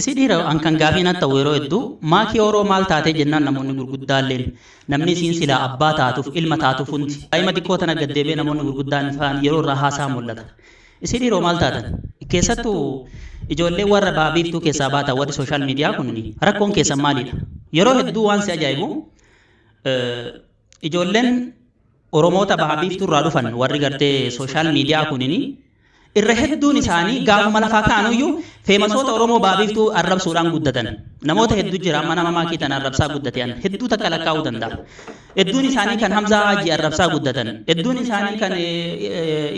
Si dhiira an kan gaafii nat ta'u yeroo hedduu maakii ooroo maal taatee jennaan namoonni gurguddaalleen namni isiin silaa abbaa taatuuf ilma taatuuf hundi daa'ima xiqqoo tana gad deebi'ee namoonni gurguddaan faan yeroo irraa haasa'an mul'ata. Isii dhiiroo maal taatan? Keessattu ijoollee warra baha biiftuu keessaa baatan warri sooshaal miidiyaa kunni rakkoon keessan maalidha? Yeroo hedduu waan si ajaa'ibu Ijoolleen Oromoota Baha Biiftuu irraa dhufan warri gartee sooshaal miidiyaa kunini irra hedduun isaanii gaafuma lafaa ka'anuyyuu feemasoota Oromoo Baha Biiftuu arrabsuudhaan guddatan. Namoota hedduu jira amma nama maakii tana arrabsaa guddatean hedduu takka lakkaa'uu danda'a. Hedduun isaanii kan Hamzaa Haajii arrabsaa guddatan. Hedduun isaanii kan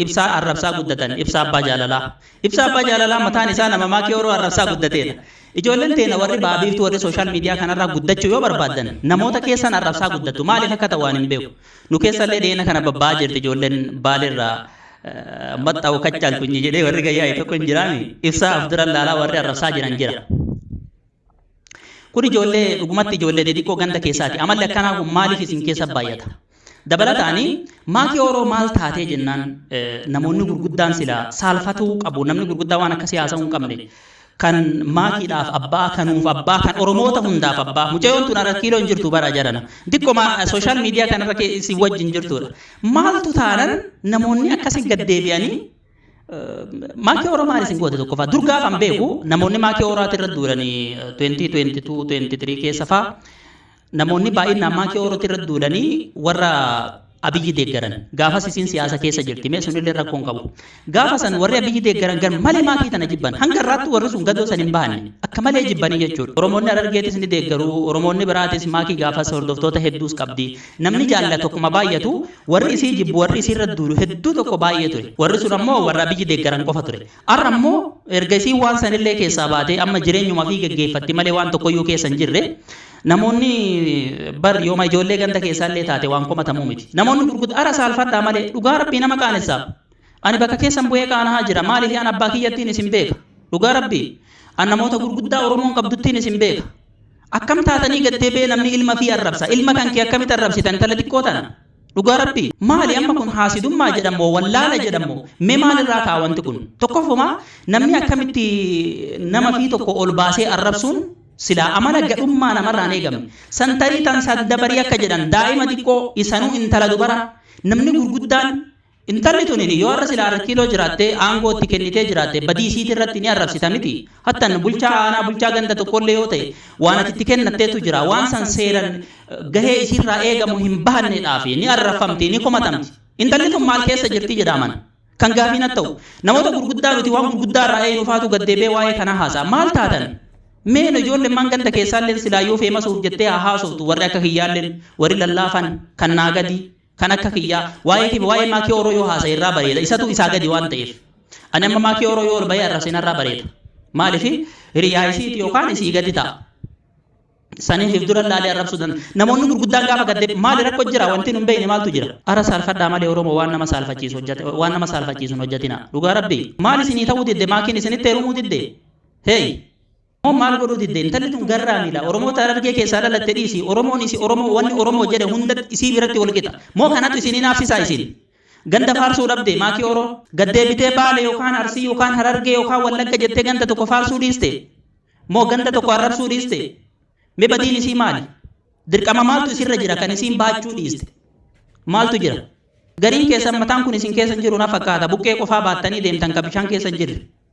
Ibsaa arrabsaa guddatan. Ibsaa Abbaa Jaalalaa. Ibsaa Abbaa Jaalalaa mataan isaa nama maakii Oromoo arrabsaa guddateedha. Ijoolleen teena warri ba'a biiftuu warri social media kanarraa guddachuu yoo barbaaddan namoota keessan arrabsaa guddattu maaliif akka ta'u ani hin beeku nu keessallee dhiyeena kana babba'aa jirti ijoolleen baaleerraa maxxa'u kachaaltunyi jedhee warri gayyaa'e tokko hin jiraami ibsaa of duran laalaa warri arrabsaa jiran jira. Kun ijoollee dhugumatti ijoollee xixiqqoo ganda keessaati amalli akkanaa kun maaliif isin keessa baay'ata? Dabalataan maatii Ooroo maal taatee jennaan namoonni gurguddaan silaa saalfatuu qabu namni gurguddaa waan akkasii haasa'uu hin qabne kan maatiidhaaf abbaa kanuuf abbaa kan Oromoota hundaaf abbaa mucayyoon tun har'a kiiloo hin jirtu bara jarana diqqoma sooshaal miidiyaa kanarra si wajjin jirtudha maaltu taanan namoonni akkasii gad deebi'anii maakii Oromoo maal isin goote tokkoffaa dur gaafan beeku namoonni maakii Oromootti irra duulanii 2022 23 keessa fa'aa namoonni baay'inaan maakii ooroti irra duulanii warra abiyyi deeggaran gaafas isiin siyaasa keessa jirti mee sunillee rakkoo hin qabu gaafa san warri abiyyi deeggaran gar malee maakii tana jibban hanga irraatti warri sun gadoo san hin bahanne akka malee jibbanii jechuudha oromoonni arargeetis ni deeggaru oromoonni biraatis maakii gaafas hordoftoota hedduus qabdi namni jaalla tokkuma baay'atu warri isii jibbu warri isii irra duulu hedduu tokko baay'ee ture warri sun ammoo warra abiyyi deeggaran qofa ture Har'a immoo erga isiin waan san illee keessaa baatee amma jireenyuma ofii geggeeffatti malee waan tokkoyyuu keessa hin jirre namoonni bar yooma ijoollee ganda keessaa illee taate waan komatamuu miti. Namoonni gurgudda ara saalfadhaa malee dhugaa rabbii nama qaanessa. Ani bakka keessan bu'ee qaanahaa jira maaliif an abbaa kiyyattiin isin beeka. Dhugaa rabbii an namoota gurguddaa Oromoon qabduttiin isin beeka. Akkam taatanii gattee bee namni ilma fii arrabsa ilma kan kee akkamitti arrabsita intala xiqqoo tana. Dhugaa rabbi maali amma kun haasidummaa jedha moo wallaala jedha moo mee maal irraa ta'a wanti kun tokkoffuma namni akkamitti nama fi tokko ol baasee arrabsuun silaa amala gadhummaa namarraan eegamne san tarii tan saddabarii akka jedhan daa'ima xiqqoo isanuu intala dubara namni gurguddaan Intalli tunin yoo har'a silaa Arrakiiloo jiraattee aangoo itti kennitee jiraatte badii isiiti irratti ni arrabsita miti. Hattan bulchaa aanaa bulchaa ganda tokkollee yoo ta'e waan ati itti kennatteetu jira. Waan san seeran gahee isiirraa eegamu hin bahanneedhaafi ni arrafamti, ni komatamti. Intalli tun maal keessa jirti jedhaaman? Kan gaafii nat ta'u. Namoota gurguddaa nuti waan gurguddaa irraa eeynu faatu gad deebi'ee waa'ee kanaa haasa'a. Maal taatan? Mee no ijoollemmaan ganda keessaalleen silaa yoo feemasuuf jettee haa haasoftu warri akka kiyyaalleen, warri lallaafan, kan naa gadii. Kan akka kiyyaa waa'ee kee fi waa'ee Maakii Ooroo yoo haasa'e irraa bareeda. Isatu isaa gadi waan ta'eef. Ani amma Maakii Ooroo yoo ol bahee arrabse narraa bareeda. Maaliif hiriyaa isiiti yookaan isii gadi ta'a. Saniif if dura laalee arrabsuu danda'a. Namoonni gurguddaan gaafa gadde maali rakko jira wanti nun beekne maaltu jira. Ara saalfadhaa malee Oromoo waan nama saalfachiisu hojjate waan nama saalfachiisu hin hojjatina. Dhugaa rabbi maal isinii ta'uu didde maakiin isinitti heerumuu didde. Hey! Moo maal godhuu didde intalli tun garraamiidha oromoota harargee keessaa dhalatte dhiisi oromoon isi oromoo wanni oromoo jedhe hunda isii biratti wal qixa moo kanatu isin hinaafsisaa isin ganda faarsuu dhabde maakii oroo gaddeebitee baale yookaan arsii yookaan harargee yookaan wallagga jettee ganda tokko faarsuu dhiiste moo ganda tokko arrabsuu dhiiste mee badiin isii maali dirqama maaltu isirra jira kan isiin baachuu dhiiste maaltu jira gariin keessan mataan kun isin keessa jiru na fakkaata buqqee qofaa baattanii deemtan ka bishaan keessa jirre